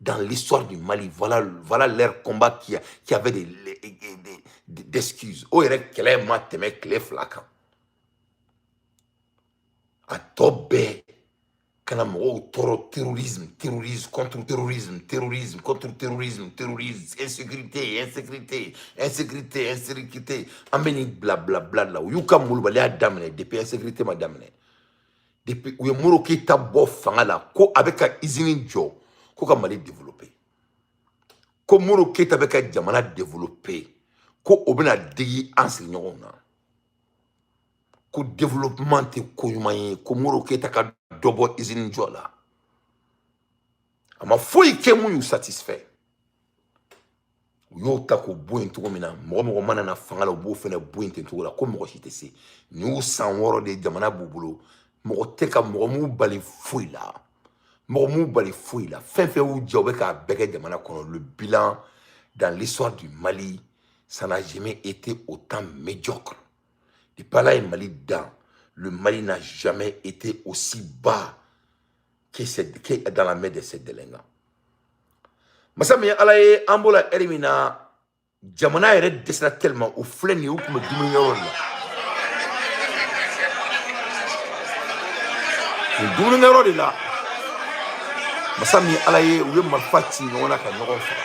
dans l'histoire du Mali, voilà, voilà leur combat qui, a, qui avait des, des, excuses. Oh, il y a ma teme clé flacan. A tobé, kana mɔgɔw toro terrorisme terrorisme contre terrorisme terrorisme contre terrorisme terrorisme insécurité insécurité insécurité insécurité an bɛ nin blablabla de la u y'u ka malobaliya daminɛ depuis insécurité ma daminɛ depuis u ye modibo keyita bɔ fanga la ko a bɛ ka izini jɔ ko ka mali développer ko modibo keyita bɛ ka jamana développer ko o bɛna digi an sigiɲɔgɔnw na ko développement tɛ ko ɲuman ye ko modibo keyita ka dɔ bɔ izini jɔ la a ma foyi kɛ mun y'u satisfait u y'o ta k'o bɔ yen cogo min na mɔgɔ o mɔgɔ mana na fanga la u b'o fɛnɛ bɔ yen ten cogo la ko mɔgɔ si tɛ se nin y'u san wɔɔrɔ de jamana b'u bolo mɔgɔ tɛ ka mɔgɔ m'u bali foyi la mɔgɔ m'u bali foyi la fɛn fɛn y'u jɛ u bɛ k'a bɛɛ kɛ jamana kɔnɔ le bilan dans l'histoire du Mali ça n'a jamais été autant médiocre depuis Ala ye Mali dan le Mali n'a jamais été aussi bas que dans la main de ces délinquants. Masa min ye ala ye an b'o la ɛri min na jamana yɛrɛ dɛsɛra tellement u filɛ nin ye u tun bɛ dumuni yɔrɔ la nin dumuni yɔrɔ de la masa min ye ala ye u ye marifa ci ɲɔgɔn na ka ɲɔgɔn faga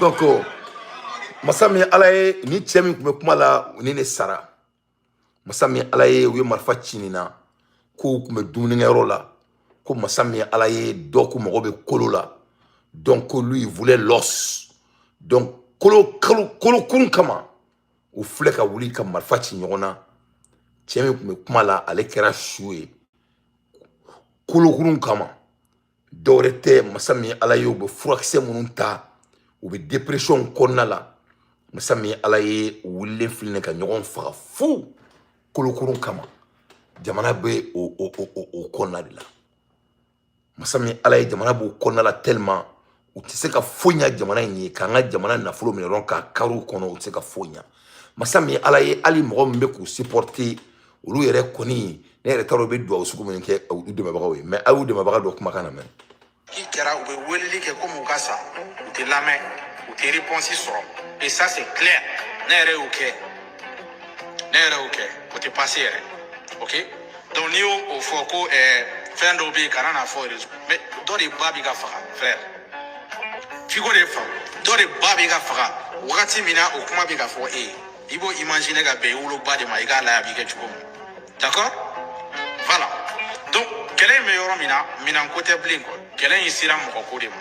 donc masa min ala ye nin cɛ min tun bɛ kuma la nin de sara masa min ala ye u ye marifa ci nin na k'u tun bɛ dumunikɛyɔrɔ la ko masa min ala ye dɔ k'o mago bɛ kolo la donc ko lui voulait l'os donc kolo kun kama u filɛ ka wuli ka marifa ci ɲɔgɔn na cɛ min tun bɛ kuma la ale kɛra su ye kolokurun kama dɔwɛrɛ tɛ masa min ala ye u bɛ furakisɛ minnu ta u bɛ depression kɔnɔna la masa min ala ye wulilen filɛ nin ka ɲɔgɔn faga fu kolokurun kama jamana bɛ o kɔnɔna de la masa min ala ye jamana b'o kɔnɔna la tellement u tɛ se ka foyi ɲa jamana in ye k'an ka jamana nafolo minɛ dɔrɔn k'a kari u kɔnɔ u tɛ se ka foyi ɲa masa min ye ala ye hali mɔgɔ min bɛ k'u supporter olu yɛrɛ kɔni ne yɛrɛ t'a dɔn u bɛ duwawu sugu min kɛ u dɛmɛbagaw ye mais a y'u dɛmɛbaga dɔ kumakan lamɛn k'i kɛra u bɛ weleli kɛ komi u ka sa u tɛ lamɛn u tɛ réponse sɔrɔ et ça c'est clair ne yɛrɛ y'o kɛ ne yɛrɛ y'o kɛ o tɛ passer yɛrɛ ok donc n'i y'o fɔ ko ɛɛ eh, fɛn dɔw bɛ yen kana n'a fɔ réseau mais dɔ de ba bɛ ka faga frère f'i k'o de faamu dɔ de ba bɛ ka faga wagati min na o kuma bɛ ka fɔ e ye i b'o imaginer ka bɛn i woloba de ma i k'a lajɛ a b'i kɛ cogo min d'accord voilà donc kɛlɛ in bɛ yɔrɔ min na minɛnko tɛ bilen quoi kɛlɛ in sera mɔgɔko de ma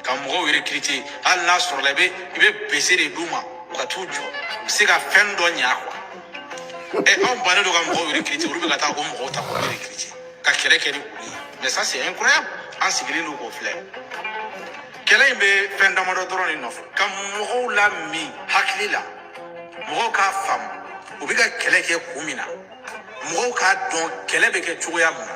ka mɔgɔw recruter hali n'a sɔrɔla i bɛ i bɛ bese de d'u ma u ka t'u jɔ u bɛ se ka fɛn dɔ ɲa quoi ɛ anw bannen don ka mɔgɔw recruter olu bɛ ka taa o mɔgɔw ta k'u recruter ka kɛlɛ kɛ ni olu ye mais ça c'est incroyable an sigilen don k'o filɛ kɛlɛ in bɛ fɛn damadɔ dɔrɔn de nɔfɛ ka mɔgɔw lamin hakili la mɔgɔw k'a faamu u bɛ ka kɛlɛ kɛ kun min na mɔgɔw k'a dɔn kɛlɛ bɛ kɛ cogoya min na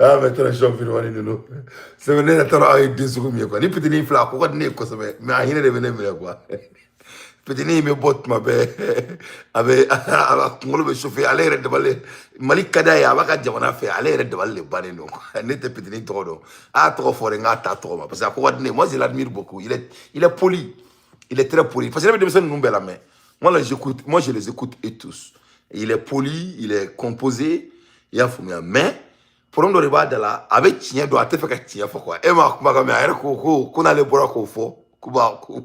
aa mais transition filimani ninnu c'est vrai ne yɛrɛ t'a dɔn aw ye den sugu min ye quoi nin fitinin filɛ a ko ka di ne ye kosɛbɛ mais a hinɛ de bɛ ne minɛ quoi fitinin in bɛ bɔ tuma bɛɛ a bɛ a kunkolo bɛ chauffer ale yɛrɛ dabali mali ka d'a ye a b'a ka jamana fɛ ale yɛrɛ dabali de bannen don quoi ne tɛ fitinin tɔgɔ dɔn a tɔgɔ fɔ de n k'a ta tɔgɔ ma parce que a ko ka di ne ye moi je l'admire beaucoup il est il est poli il est très poli parce que ne bɛ denmisɛnnin ninnu bɛɛ lamɛn moi là j'écoute moi je les écoute eux tous il est poli il est composé i y'a faamuya mais problème dɔ de b'a da la a bɛ tiɲɛ dɔn a tɛ fɛ ka tiɲɛ fɔ quoi e m'a kumakan mɛn a yɛrɛ ko ko ko n'ale bɔra k'o fɔ ko b'a ko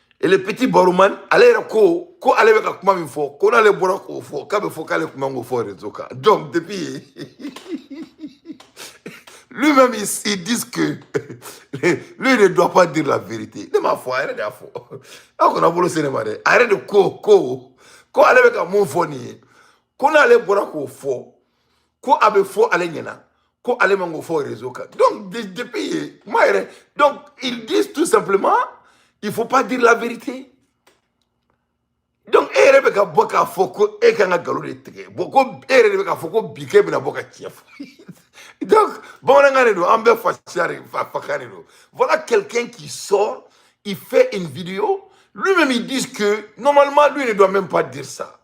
et le petit Baruman ale yɛrɛ ko ko ale bɛ ka kuma min fɔ ko n'ale bɔra k'o fɔ k'a bɛ fɔ k'ale kun man k'o fɔ réseau kan donc depuis lui-même il, il dit que lui ne doit pas dire la vérité ne m'a fɔ a yɛrɛ de y'a fɔ a kana bolo sin ne ma dɛ a yɛrɛ de ko ko ko ale bɛ ka min fɔ nin ye ko n'ale bɔra k'o fɔ ko a bɛ fɔ ale ɲɛna ko ale man k'o fɔ réseau kan donc de- depuis yen kuma yɛrɛ donc ils disent tout simplement il faut pas dire la vérité donc e yɛrɛ bɛ ka bɔ k'a fɔ ko e kan ka nkalon de tigɛ bon ko e yɛrɛ de bɛ k'a fɔ ko bi k'e bɛna bɔ ka tiɲɛ fɔ donc bamanankan de don an bɛɛ fasiya de fa- fakan de don voilà quelqu'un qui sort il fait une vidéo lui-même il dit que normalement lui ne doit même pas dire ça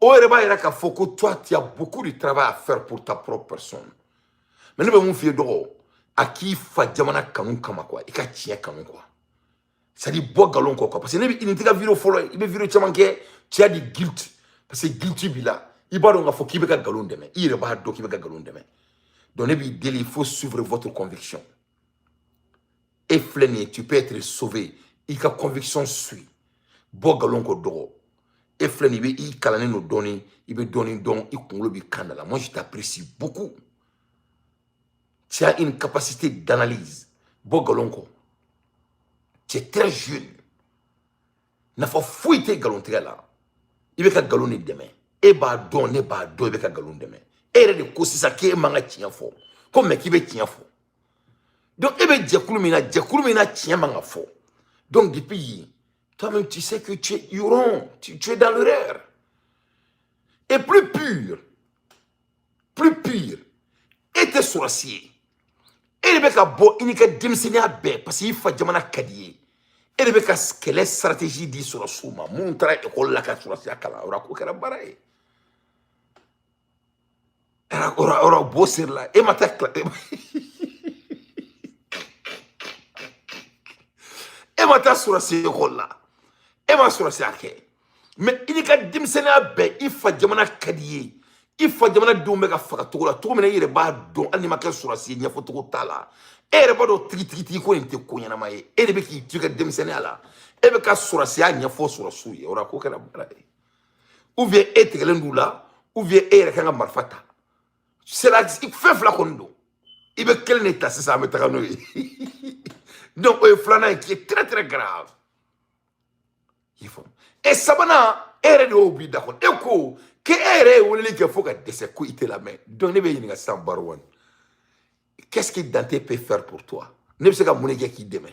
o yɛrɛ b'a yira k'a fɔ ko toi tu as beaucoup de travail à faire pour ta propre personne mais ne bɛ min f'i ye dɔgɔ a k'i fa jamana kanu kama quoi i ka tiɲɛ kanu quoi c'est à dire bɔ nkalon kɔ quoi parce que ne bɛ nin t'e ka video fɔlɔ ye i bɛ video caman kɛ tu as du guilt parce que guilty b'i la i b'a dɔn k'a fɔ k'i bɛ ka nkalon dɛmɛ i yɛrɛ b'a dɔn k'i bɛ ka nkalon dɛmɛ donc ne b'i deli il faut suivre votre conviction e filɛ nin ye tu peux être sauvé i ka conviction suit bɔ galon kɔ dɔgɔ e filɛ nin i bɛ i kalannen don dɔɔni i bɛ dɔɔni dɔn i kunkolo b'i kan da la moi je t'apprécie beaucoup tu as une capacité d'analyse bɔ galon kɔ tu es très jeune nafa foyi tɛ galon tigɛ la i bɛ ka galon de dɛmɛ e b'a dɔn ne b'a dɔn i bɛ ka galon dɛmɛ e yɛrɛ de ko sisan k'e man ka tiɲɛ fɔ ko mais k'i bɛ tiɲɛ fɔ Donc, e bɛ jɛkulu min na, jɛkulu min na tiɲɛ man ka fɔ. Donc, depuis yen, toi-même, tu sais que tu es erroné, tu, tu es dans l'erreur. Et plus pire, plus pire, e tɛ sɔrɔsi ye. E de bɛ ka bɔ i n'i ka denmisɛnninya bɛɛ parce que i fa jamana ka di i ye. E de bɛ ka kɛlɛ stratégie di sɔrɔsiw ma minnu taara école la ka sɔrɔsiya kalan o la ko kɛra baara ye. ora b'o seri la e ma taa ekɔli la e ma e ma taa sɔrɔsi ekɔli la e ma sɔrɔsiya kɛ mais i n'i ka denmisɛnninya bɛɛ i fa jamana ka di i ye i fa jamana denw bɛ ka faga cogo la cogo min na i yɛrɛ b'a dɔn hali n'i ma kɛ sɔrɔsi ye ɲɛfɔcogo t'a la e yɛrɛ b'a dɔn tigitigitigi ko nin tɛ ko ɲɛnama ye e de bɛ k'i to i ka denmisɛnninya la e bɛ ka sɔrɔsiya ɲɛfɔ sɔrɔsiw ye o la ko kɛra baara ye ou bien e tigɛlen d'u la ou bien e yɛrɛ kan ka marifa ta sera fɛn fila kɔni don i bɛ kelen de ta sisan an bɛ taga n'o ye donc o ye filanan ye qui est très très grave i faamu e sabanan e yɛrɛ de y'o b'i da kɔnɔ e ko k'e e yɛrɛ ye weleli kɛ fo ka dɛsɛ ko i tɛ lamɛn donc ne b'i ɲininka sisan barowani qu'est-ce que Dante peut faire pour toi ne bɛ se ka mun de kɛ k'i dɛmɛ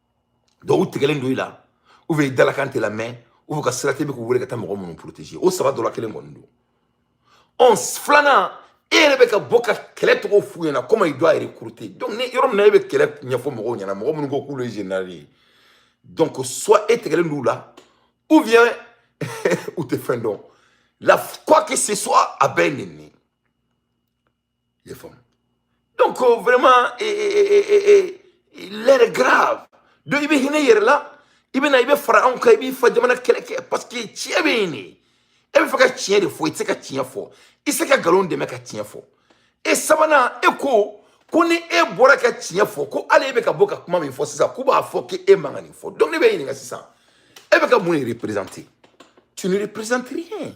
Donc u tigɛlen don i la ou bien i dalakan tɛ lamɛn ou bien u ka sira t'e bɛ k'u wele ka taa mɔgɔ minnu protéger o saba dɔ la kelen kɔni don ɔ filanan e yɛrɛ bɛ ka bɔ ka kɛlɛ cogo f'u ɲɛna comment il doit recruter donc nin yɔrɔ min na e bɛ kɛlɛ ɲɛfɔ mɔgɔw ɲɛna mɔgɔ minnu ko k'olu ye général ye donc soit e tigɛlen don u la ou bien u tɛ fɛn dɔn la quoi que ce soit a bɛɛ ye nin les femmes. Donc, euh, vraiment, et, et, et, l'heure est grave. Donc, i bɛ hinɛ i yɛrɛ la, i bɛ na i bɛ fara anw kan i b'i fa jamana kɛlɛ kɛ parce que tiɲɛ bɛ yen de e b'a fɛ ka tiɲɛ de fɔ i tɛ se ka tiɲɛ fɔ i tɛ se ka nkalon dɛmɛ ka tiɲɛ fɔ e sabanan e ko ko ni e bɔra ka tiɲɛ fɔ ko hali e bɛ ka bɔ ka kuma min fɔ sisan k'u b'a fɔ k'e e man ka nin fɔ donc ne b'i ɲininka sisan e bɛ ka mun de représenter tu ne représentes rien